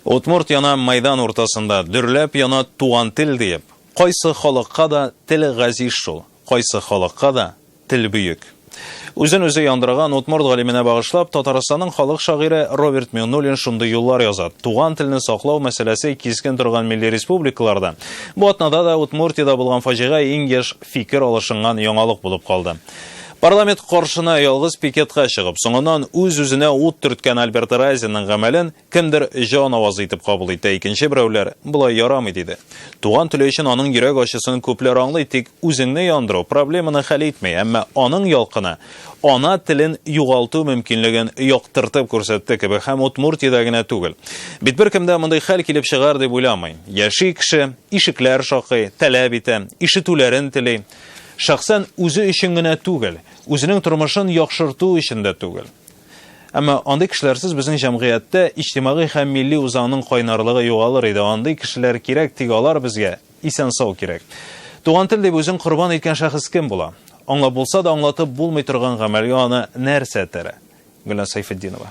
Удмурт яна майдан уртасында, дөрләп яна туган тел диеп. Кайсы халыкка да тел газиз шул, кайсы халыкка да тел бөек. Үзен-үзе яндырган удмурт галименә багышлап, Татарстанның халык шагыйре Роберт Миңнуллин шундый юллар яза. Туган телне саклау мәсьәләсе кискен торган милли республикаларда, бу атнада да Удмуртиядә булган фаҗига иң еш фикер алышынган яңалык булып калды. Парламент каршына ялгыз пикетка чыгып, соңыннан үз-үзенә ут төрткән Альберт Райзинның гамәлен Кемдер җан авазы итеп кабул итә, икенче берәүләр, болай ярамый диде. Туган теле өчен аның йөрәк ачысын күпләр аңлый, тик үзеңне яндыру проблеманы хәл итми, әмма аның ялкыны ана телен югалту мөмкинлеген яктыртып күрсәтте кебек һәм Удмуртиядә генә түгел. Бит беркемдә мондый хәл килеп чыгар дип уйламый. Яши кеше, ишекләр шакый, таләп итә, ишетүләрен тели. Шәхсән үзе өчен генә түгел, үзенең тормышын яхшырту өчен дә түгел. Әмма андый кешеләрсез безнең җәмгыятьтә иҗтимагый һәм милли үзаңның кайнарлыгы югалыр иде. Андый кешеләр кирәк, тик алар безгә исән-сау кирәк. Туган тел дип үзен корбан иткән шәхес кем була? Аңлап булса да, аңлатып булмый торган гамәлгә аны нәрсә этәрә? Гөлназ Сәйфетдинова.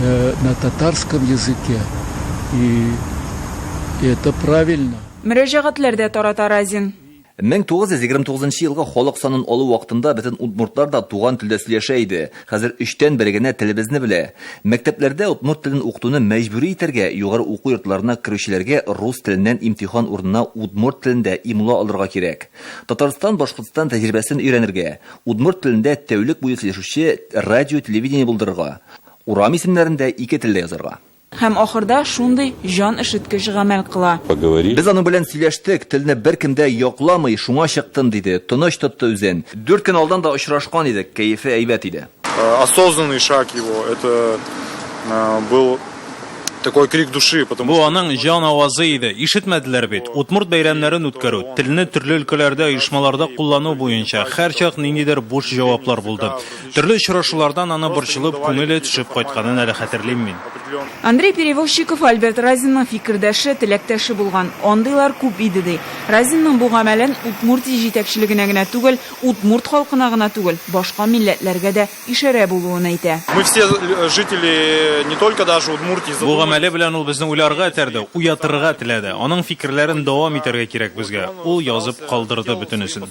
на татарском языке и это правильно. Мөрәҗәгатьләр дә тарата Разин. 1929 елгы халык санын алу вакытында бөтен удмуртлар да туган телдә сөйләшә иде. Хәзер өчтән бере генә телебезне белә. Мәктәпләрдә удмурт телен укытуны мәҗбүри итәргә, югары уку йортларына керүчеләргә рус теленнән имтихан урынына удмурт телендә имла алырга кирәк. Татарстан, Башкортстан тәҗрибәсен өйрәнергә. Удмурт телендә тәүлек буе сөйләшүче радио-телевидение булдырырга. Урам исемнәрен дә ике телдә язарга. Һәм ахырда шундый җан өшеткеч гамәл кыла. Поговорить. Без аның белән сөйләштек, телне беркем дә якламый, шуңа чыктым, диде, тыныч тотты үзен. Дүрт көн алдан да очрашкан идек, кәефе әйбәт иде. Осознанный шаг его, это был такой крик души, потому что. Бу аның җан авазы иде, ишетмәделәр бит. Удмурт бәйрәмнәрен үткәрү, телне төрле өлкәләрдә, оешмаларда куллану буенча һәрчак ниндидер буш җаваплар булды. Төрле очрашулардан аны борчылып, күңеле төшеп кайтканын әле хәтерлим мин. Андрей Перевозчиков Альберт Разинның фикердәше, теләктәше булган. Андыйлар күп иде, ди. Разинның бу гамәлен Удмуртия җитәкчелегенә генә түгел, удмурт халкына гына түгел, башка милләтләргә дә ишарә булуын әйтә. Бу гамәле белән ул безне уйларга этәрде, уятырга теләде. Аның фикерләрен дәвам итәргә кирәк безгә. Ул язып калдырды бөтенесен.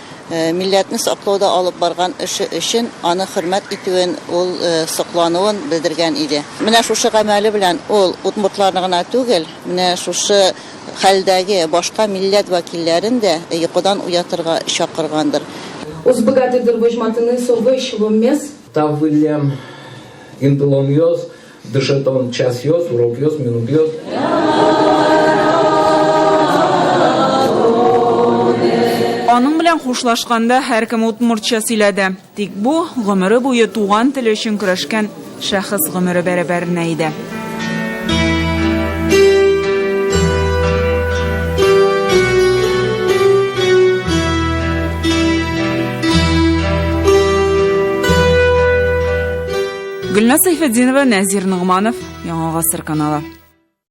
Милләтне саклауда алып барган эше өчен аны хөрмәт итүен, ул соклануын белдергән иде. Менә шушы гамәле белән ул удмуртларны гына түгел, менә шушы хәлдәге башка милләт вәкилләрен дә йокыдан уятырга чакыргандыр. Уз богатырьдыр вожматыны совыщ воммес. Таввылем, индломьёз. Дышит он час йос, урок йос, минут йос. Аның белән хушлашканда һәркем удмуртча сөйләде. Тик бу гомере буе туган теле өчен көрәшкән шәхес гомере бәрабәренә иде. Гөлназ Сайфетдинова, Нәзир Ногманов, Яңа гасыр каналы.